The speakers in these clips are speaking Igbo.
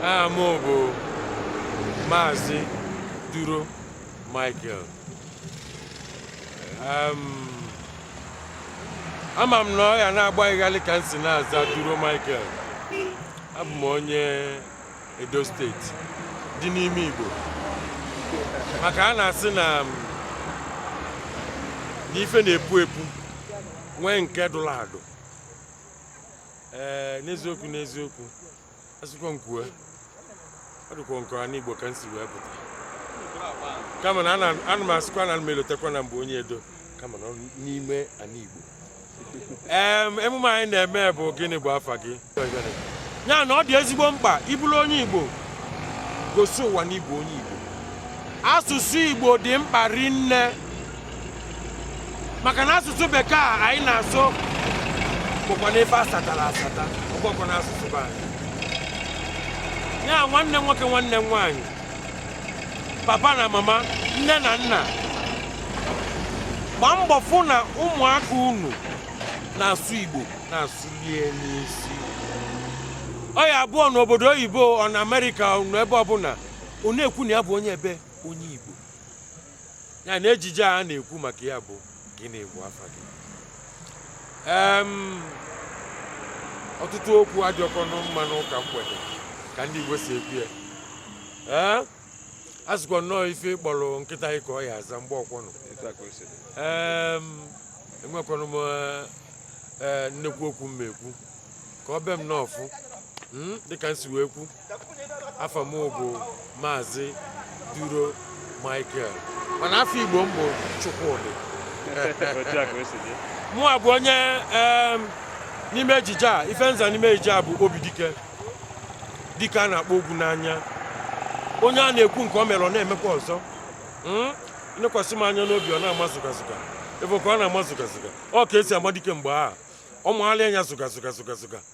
aha m bụ maazị duro michael ama m na ọ ya na-agba gị ghalị ka m si na-aza duro michael abụ m onye Edo state dị n'ime Igbo maka a na-asị na um, n'ife na-epu epu nwee nke dụrụ adụ ee n'eziokwu n'eziokwu asịkwa m kwue ọ dịkwa nke ana Igbo ka m si wee pụta kama na ana m asịkwa na m elotekwa na m bụ onye edo kama na n'ime ana Igbo emume anyị na-eme bụ gịnị bụ afa gị ya na ọ dị ezigbo mkpa ị bụrụ onye Igbo gosi ụwa na ị bụ onye Igbo asụsụ Igbo dị mkpa rinne maka na asụsụ bekee a anyị na-asụ bụkwa n'ebe asatara asata ọ bụọkwọnụ asụsụ be anyị ya nwanne m nwoke nwanne m nwaanyị papa na mama nne na nna gbaa mbọ fụ na ụmụaka unu na-asụ igbo na-asụ rinne sị ọ ya abụ ọ nọ obodo oyibo ọ nọ amerịka ọ nọ ebe ọbụla ọ na-ekwu na ya bụ onye ebe onye igbo ya na ejije a na-ekwu maka ya bụ gịnị bụ afa gị Em, ọtụtụ okwu adịọkwọnụ mma n'ụka mgbede ka ndị igbo si ekwu ya ee a sịkwa na ọ ife ị kpọrọ nkịta gị ka ọ ya aza mgbe ọkwọnụ etu a ka o si dị Em, enwekwanụ m eh, eh, nnekwu okwu m ekwu ka ọ be m n'ọfụ mm, dịka m si wee kwu afa m bụ maazị duro michael mana afa igbo m bụ chukwudị mụ a bụ onye n'ime ejije a ife m za n'ime ejije a bụ obi dike dike a na-akpa ọgwụ n'anya onye a na-ekwu nke o mere ọ na-emekwa ọzọ hmm? nekwasị m anya n'obi ọ na-ama zụgazụga ebe ka ọ na-ama zụgazụga ọ ka e si ama dike mgbe ọ maala ya zụgazụga zụgazụga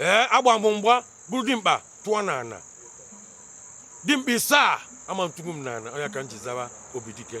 ee agba m mgba buru dimkpa tụọ n'ana dimkpa isaa ama atụgbu m n'ana ọ ya ka m ji zawa obi dike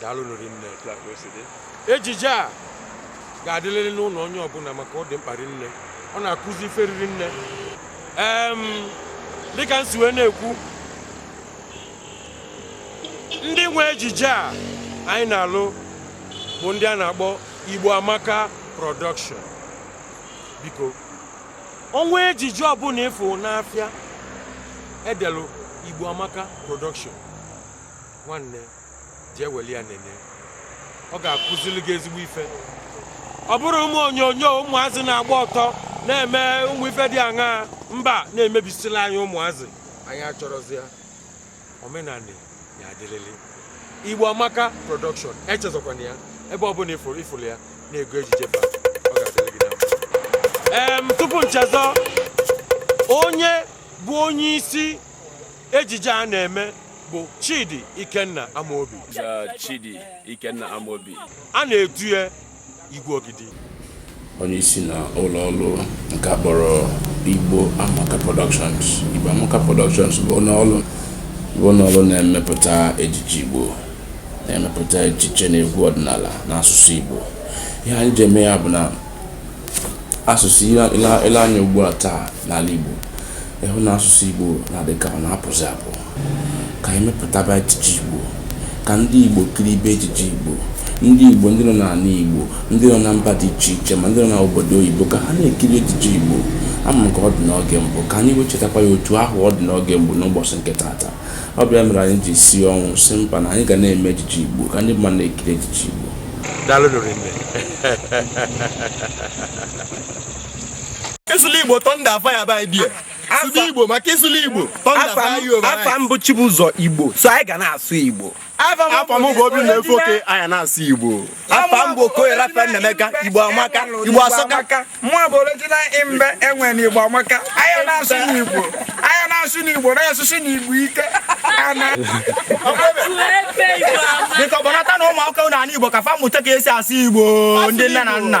daalụ rinne ejije a ga-adịlịrị n'ụnọ onye ọbụna maka ọ dị mkpa rinne ọ na-akụzi ife riri nne dịka nsi wee na-ekwu ndị nwe ejije a anyị na-alụ bụ ndị a na-akpọ Igbo Amaka Production biko o nwee ejije ọbụna ịfụ n'afịa edelu Igbo Amaka Production nwanne jee weli ya nene ọ ga-akụziri gị ezigbo ife ọ bụrọ ụmụ onyonyo ụmụazị na-agba ọtọ na-eme ụmụ ife dị aṅa mba na-emebisila anyị ụmụazị anyị achọrọzi ya omenanị ya-adịlịlị igbo amaka production echezọkwana ya ebe ọbụna ịfụlụ ya na-ego ejije ba ọ ga-adịrị gị na mma. Em, tupu nchezọ onye bụ onye isi Ejije a na-eme bụ Chidi Ikenna Amobi. Chidi Ikenna Amobi. A na-etu ya Igwe Ogidi. Onye isi na ụlọ ọrụ nke a kpọrọ Igbo Amaka Productions. Igbo Amaka Productions bụ ụlọ ọrụ bụ ụlọ ọrụ na-emepụta ejije Igbo na-emepụta ejije na egwu ọdịnala na asụsụ Igbo. Ihe anyị ji eme ya bụ na asụ̀sụ̀ ị lee anya ugbu à taà n'àla ìgbò ị hụ nà asụ̀sụ̀ ìgbò nà àdị kà ọ nà apụ̀zị̀ àpụ kà ànyị mepụ̀taba ejije ìgbò kà ndị ìgbò kiribe ejije ìgbò ndị ìgbò ndị nọ n'àla ìgbò ndị nọ na mbà dị ichè ichè mà ndị nọ n'òbòdò oyìbo kà ha na-èkiri ejije ìgbò amakà ọ dị̀ n'ogè mbụ kà ànyị wee chètakwa ya òtù ahụ̀ ọ dị̀ n'ogè gboo n'ụbọ̀chị̀ ǹkè taàtà ọ bụ ya mere anyị ji sie ọnwụ sị mba na anyị ga na-eme ejije igbo ka ndị mmadụ na-ekiri ejije igbo ịsụla igbo tọnda afa ya by bie sụla igbo maka ịsụla igbo tọnda afa ya afa m bụ chibụzọ igbo so anyị ga na-asụ igbo afa m bụ obinna efe oke anyị na-asụ igbo afa m bụ okoye raphael nnaemeka igbo amaka igbo asọka mụọ bụ original imbe enwe na igbo amaka anyị na-asụ n'igbo anyị na-asụ n'igbo na-asụsụ n'igbo ike dịka ọbụnata na ụmụ akwụkwọ na ala igbo ka fa mụta ka esi asụ igbo ndị nne na nna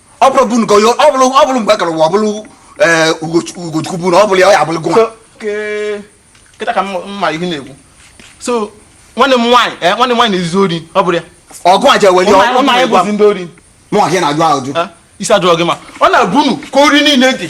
ọ bụrụ bụ nke ọ bụrụ ọ bụrụ mgbe kọrọ ọ bụrụ eh, ugochukwu bụ na ọ bụrụ ya ọ ya abụrụ gụnwa kịta ka mma ihe na-ekwu so nwanne m nwaanyị eh, nwanne m nwaanyị na-ezu ori ọ bụrụ ya ọgụ a jeweli ụmụ anyị bụzi ndị ori mụ nwa gị na-ajụ ajụ eh, isi ajụọ gị ma ọ na-abụ unu ka ori niile dị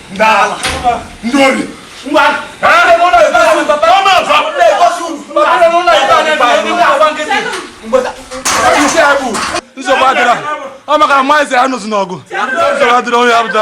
nsogbu adịrọ ọ maka na maazị ya nụzi n'ọgụ nsogbu adịrọ onye abụda